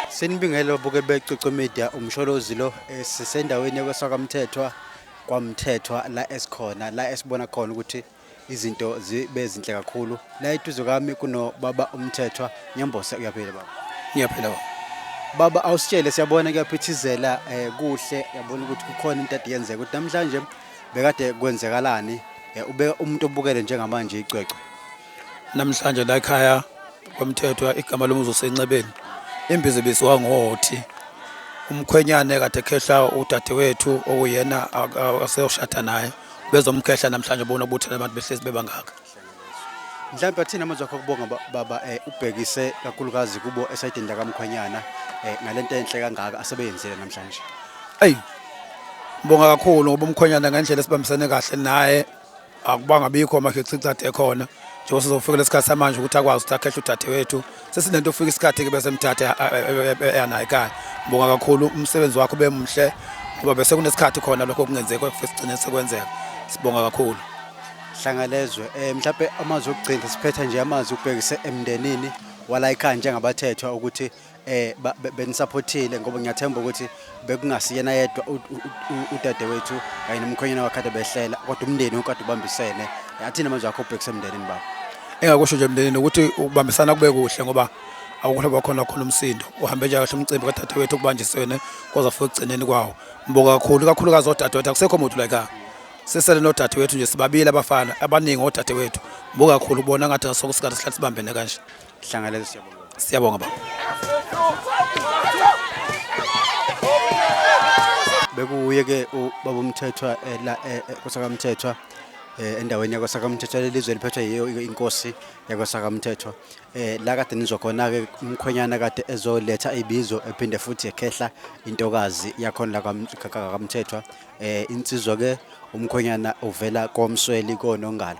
Senibingelo buke becucu media umsholozi lo eh, sisendaweni yakwasakamthethwa kwamthethwa la esikhona la esibona khona ukuthi izinto zibe zinhle kakhulu la eduze kwami kunobaba umthethwa ngiyambose uyaphila baba ngiyaphila baba baba awusitshele siyabona kuyaphithizela eh, kuhle yabona ukuthi kukhona into ade yenzeka ukuthi namhlanje bekade kwenzekalani eh, ube umuntu obukele njengamanje icwecwe namhlanje la ekhaya kwamthethwa igama lomuzi usenxebeni imbizi bisiwa ngothi umkhwenyane kade khehla udadewethu okuyena aseyoshada naye bezomkhehla namhlanje bona ubuthela abantu behlezi bebangaka mhlawumbe athina amazwi akho kubonga baba eh, ubhekise kakhulukazi kubo esayidini lakamkhwenyana eh, ngalento enhle kangaka asebeyenzile namhlanje eyi ngibonga kakhulu ngoba umkhwenyana ngendlela esibambisene kahle naye akubanga bikho amakhechicade ekhona njengoba sizofikela isikhathi samanje ukuthi akwazi ukuthi akhehle udadewethu sesinento ufika isikhathi ke bese mthathe eyanayo ekhaya ngibonga kakhulu umsebenzi wakho bemuhle ngoba bese kunesikhathi khona lokho kungenzeki kwafike sigcine sekwenzeka sibonga kakhulu hlangalezwe um eh, mhlawumbe amazwi okugcina siphetha nje amazwi ukubhekise emndenini walayikhaya njengabathethwa ukuthi um benisaphothile ngoba ngiyathemba ukuthi bekungasiyena yedwa udadewethu kanye nomkhwenyana wakhe behlela kodwa umndeni ukade ubambisene athina manje akho ubhekise emndenini baba engakusho nje emndenini ukuthi ukubambisana kube kuhle ngoba awukho bakhona khona umsindo uhambe nje kahle umcimbi kadadewethu okubanjisene koza futhi ekugcineni kwawo mboka kakhulu kakhulukazi odadewethu akusekho muntu like ah, sisele nodadewethu nje sibabili abafana abaningi odadewethu mboka kakhulu kubona ngathi asokusikade sihlale sibambene kanje Hlangaleza siyabonga. Siyabonga baba. Bekuye ke ubaba uMthethwa eh, la eh, eh, kosakamthethwa eh, endaweni yakwasakamthethwa lelizwe liphethwe yiyo i- inkosi yakwasakamthethwa eh la kade nizwa khona ke umkhwenyana kade ezoletha ibizo ephinde futhi ekhehla intokazi yakhona la kwam- ka- ka- kamthethwa eh insizwa ke umkhwenyana uvela komsweli konongalo